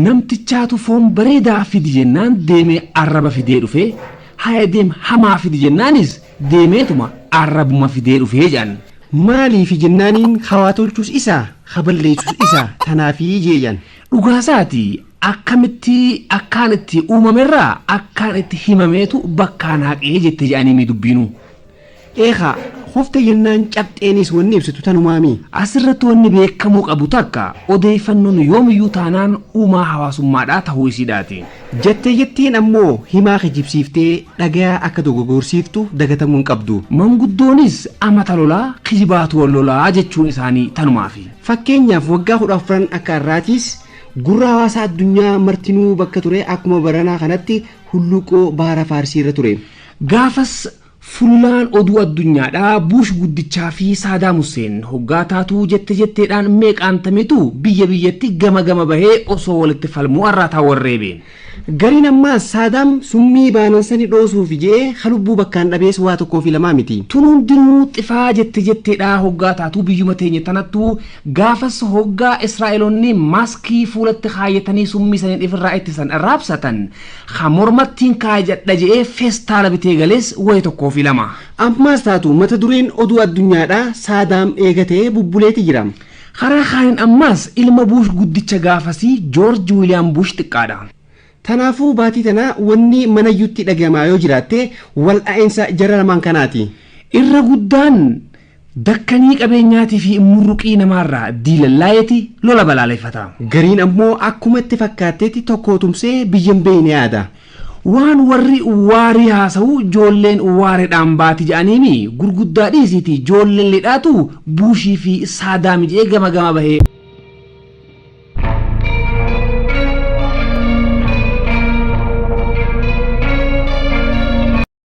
Namtichaatu foon bareedaa fidi jennaan deemee arraba fidee dhufe, haya deem hamaa fidi jennaanis deemeetuma arrabuma fidee dhufe jedhan. Maaliifi jennaaniin ka waa tolchus isa, ka balleessus isa, tanaafi jee jedhan. Dhugaasaati, akkamitti akkaan itti uumamerraa akkaan itti himameetu bakkaan haqe jette jedhaniimii dubbiinuu. Eekaa, kufte jennaan cabxeenis wanni ibsitu tanumaami. Asirratti wanni beekkamuu qabu takka, odeeyfannoon yoomiyyuu taanaan uumaa hawaasummaadhaa tahuu isiidhaati. Jattee jatteen ammoo himaa kijibsiiftee dhagayaa akka dogogorsiiftu dagatamuu hin qabdu. Manguddoonis amata lolaa, kijibaatu wal lolaa jechuun isaanii tanumaafi. Fakkeenyaaf waggaa kudha afran akka arraatiis gurra hawaasaa addunyaa martinuu bakka ture akkuma baranaa kanatti hulluuqqoo baara Faarsiirra ture. Gaafas Fullaan oduu addunyaadhaa Buush guddichaa fi Saadaam Husseen hoggaa taatuu jette jetteedhaan meeqaan tamitu biyya biyyatti gama gama bahee osoo walitti falmuu arraataa wal reebe. Gariin ammaas Saadaam summii baanan sani dhoosuufi je'ee ka lubbuu bakkaan dhabees waa tokkoo fi lamaa miti. Tun hundinuu xifaa jette jetteedhaa hoggaa taatuu biyyuma teenya tanattu gaafas hoggaa Israa'eloonni maaskii fuulatti kaayyatanii summii saniin ifirraa ittisan raabsatan Ka mormattiin kaayajadha je'ee feestaala bitee galees wayi tokkoo fi lama. Ammaas taatu mata dureen oduu addunyaadhaa Saadaam eegatee bubbuleeti jira. Karaa kaaniin ammaas ilma Buush guddicha gaafasii Joorji Wiiliyaam Buush xiqqaadha. Tanaafuu baatii tana wanni manayyuutti dhagayamaa yoo jiraatte wal dha'insa jara lamaan kanaati. Irra guddaan Dakkanii qabeenyaatii fi immurruqii namaarraa diilallaa'eeti lola balaaleffata. Gariin ammoo akkuma itti fakkaatteetti tokkoo tumsee biyya hin beeyne yaada. Waan warri waarii haasawu joolleen waaredhaan baati ja'aniimi gurguddaa dhiisiitii joolleen lidhaatu Buushii fi Saadaami ja'ee gama gama bahee.